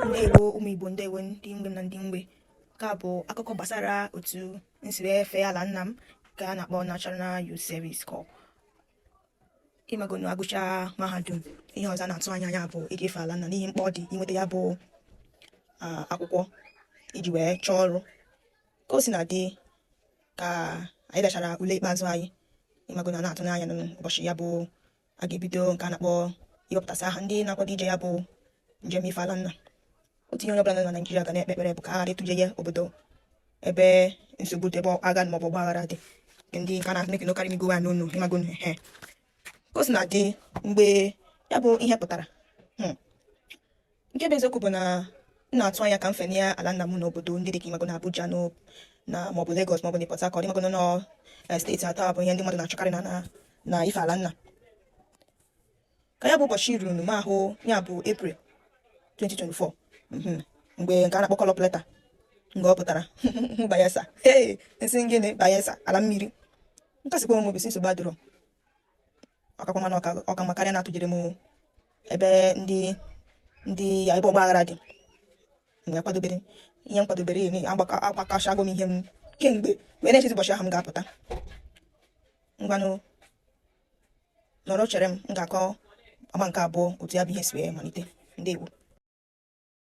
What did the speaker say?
ndewo ụmụ igbo ndewo ndị mgbe na ndị mgbe nke a bụ akụkọ gbasara otu m siri fee ala nna m nke a na-akpọ National Youth Service Corps ịmagonu a gụcha mahadum ihe ọzọ na-atụ anya ya bụ ịga efe ala nna n'ihi mkpa ọ dị inweta ya bụ akwụkwọ iji wee chọọ ọrụ ka o sina dị ka anyị dechara ule ikpeazụ anyị ịmagonu na-atụ n'anya n'ụbọchị ya bụ a ga-ebido nke a na-akpọ iwepụtasị aha ndị na-akwado ije ya bụ njem ife ala nna otu ihe onye ọbụla nọ na Naịjirịa ga na-ekpe ekpere bụ ka a ghara ịtụje ya obodo ebe nsogbu dị ebe agha maọbụ ọgba aghara dị ndị nke a na-amịkị n'okarị migo ya n'onu ịmagonu eh ka o sina dị mgbe ya bụ ihe pụtara hmm, nke bụ eziokwu bụ na m na-atụ anya ka m fee ala nna m n'obodo ndị dị ka ịmagonu Abuja na maọbụ Lagos maọbụ na Port Harcourt ịmagonu eh, steeti atọ a bụ ihe ndị mmadụ na-achọkarị na na ife ala nna ka ya bụ ụbọchị ruru m ahụ ya bụ April 2024 mhm, mgbe nke a na-akpọ call-up letter mgbe ọ pụtara Bayelsa ee m sị gịnị Bayelsa ala mmiri m kasikwa onwe m obi sị nsogbu adịrọ ọ kakwa mma na ọ ka mma karịa na a tụjere m ebe ndị ndị a ebe ọgba aghara dị m wee kwadobere ihe m kwadobere agbakọchago m ihe m kemgbe wee na-echezi ụbọchị ahụ m ga-apụta ngwanụ nọrọ chere m m ga-akọ agba nke abụọ otu ya bụ ihe si wee malite ndewo